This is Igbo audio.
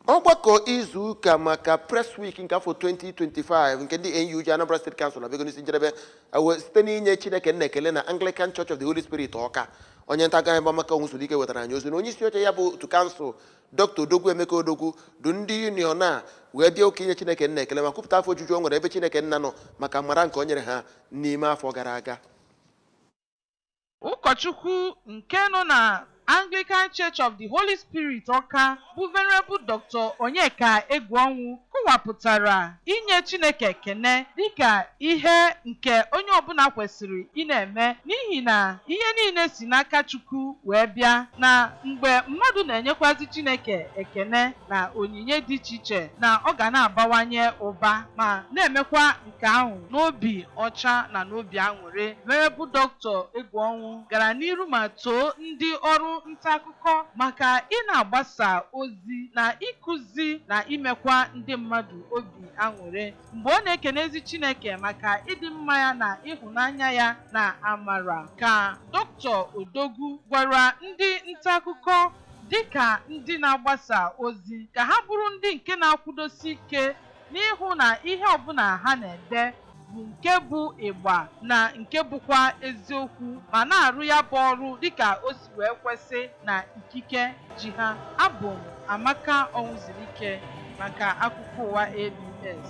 ọgbakọ izu ụka maka press week nke afọ 2025 nke ndị NUJ Anambra State Council abịago n'isi njedebe wee site n'inye Chineke nna ekele na Anglican Church of the Holy Spirit Ọka onye ntaakụkọ Amaka Ọnwụzulike wetara anyị ozi na onye isi oche ya bụ otu kansụl Dr. Odogwu Emeka Odogwu du ndị union a wee bịa ụka inye Chineke nna ekele ma kwupụta afọ ojuju o nwere ebe Chineke nna nọ maka amara nke o nyere ha n'ime afọ gara aga Ụkọchukwu nke nọ na Anglican Church of the Holy Spirit Ọka bụ Venerable Dr. Onyeka Egwuọnwụ kọwapụtara inye Chineke ekene dịka ihe nke onye ọbụla kwesịrị ị na-eme n'ihi na ihe niile si n'aka Chukwu wee bịa na mgbe mmadụ na-enyekwazị Chineke ekene na onyinye dị iche iche na ọ ga na-abawanye ụba ma na-emekwa Nke ahụ, n'obi ọcha na n'obi aṅụrị, Venerable Dr. Egwuọnwụ gara n'iru ma too ndị ọrụ ntaakụkọ maka ị na-agbasa ozi na ịkụzi na imekwa ndị mmadụ obi aṅụrị mgbe ọ na-ekenezi Chineke maka ịdị mma ya na ịhụnanya ya na amara ka Dr. Odogwu gwara ndị ntaakụkọ dịka ndị na-agbasa ozi ka ha bụrụ ndị nke na-akwụdosi ike n'ịhụ na ihe ọbụla ha na-ede bụ nke bụ ịgba na nke bụkwa eziokwu ma na-arụ ya bụ ọrụ dịka o si wee kwesị na ikike ji ha. Abụ m Amaka Ọnwụzulike maka Akụkọ Ụwa ABS.